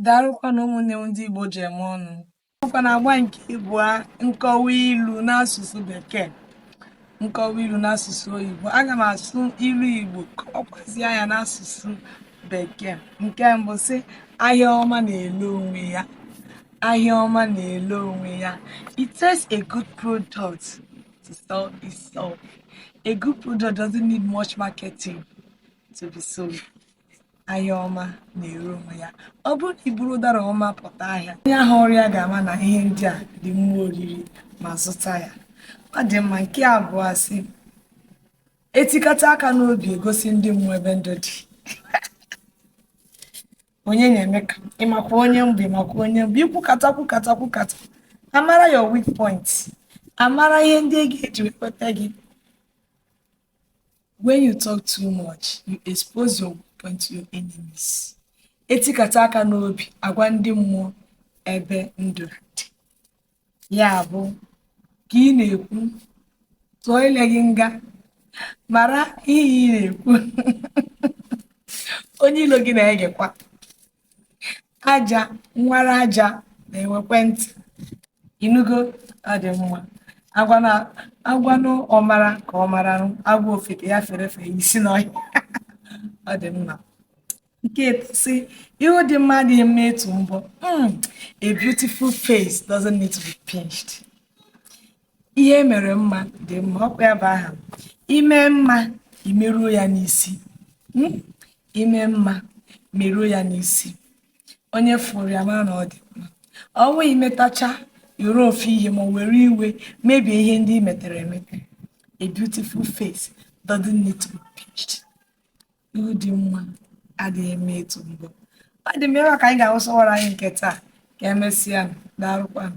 daalụkwanụ ụmụnne m ndị Igbo ji eme ọnụ ọkwa n'agba nke ịbụa nkọwa ilu n'asụsụ bekee nkọwa ilu n'asụsụ oyibo aga m asụ ilu Igbo kọkwazia ya n'asụsụ bekee nke mbụ sị ahịa ọma na-ele onwe ya ahịa ọma na-ele onwe ya it takes a good product to sell itself a good product doesn't need much marketing to be sold ahịa ọma na-ere onwe ya ọ bụrụ na i buru ụdara ọma pụta ahịa onye hụrụ ya ga-ama na ihe ndị a dị mma oriri ma zụta ya ọ dị mma nke abụọ sị e tikata aka n'obi e gosi ndị mmụọ ebe ndụ dị onye na-eme ka ị makwa onye m bụ ị makwa onye m bụ i kwukata kwukata kwukata a mara your weak point a mara ihe ndị e ga-eji wepụta gị When you talk too much, you expose your weak point to your enemies. E tikata aka n'obi a gwa ndị mmụọ ebe ndụ dị. Ya bụ ka ị na-ekwu tụọ ile gị nga mara ihe ị na-ekwu onye ilo gị na-egekwa aja nwara aja na-enwekwe ntị ị nụgo ọ dị mma a gwanụ ọmara ka ọ maranụ, a gwa ofeke ya fere efe isi n'ọhịa ọ dị mma nke etọ sị ihu dị mma adịghị mma ịtụ mbọ Mm, a beautiful face doesn't need to be pinched ihe e mere mma dị mma ọkwa ya bụ aha i mee mma i meruo ya n'isi Hmm? i mee mma meruo ya n'isi onye fụrụ ya mara na ọ dị mma ọ bụghị i metacha i woro ofu ihe ma were iwe mebie ihe ndị i metere emete a beautiful face doesn't need to be pinched ihu dị mma adịghị mma ịtụ mbọ ọ dị mma ebe a ka anyị ga-awụsa ọwara anyị nke taa ka emesịa daalụkwanụ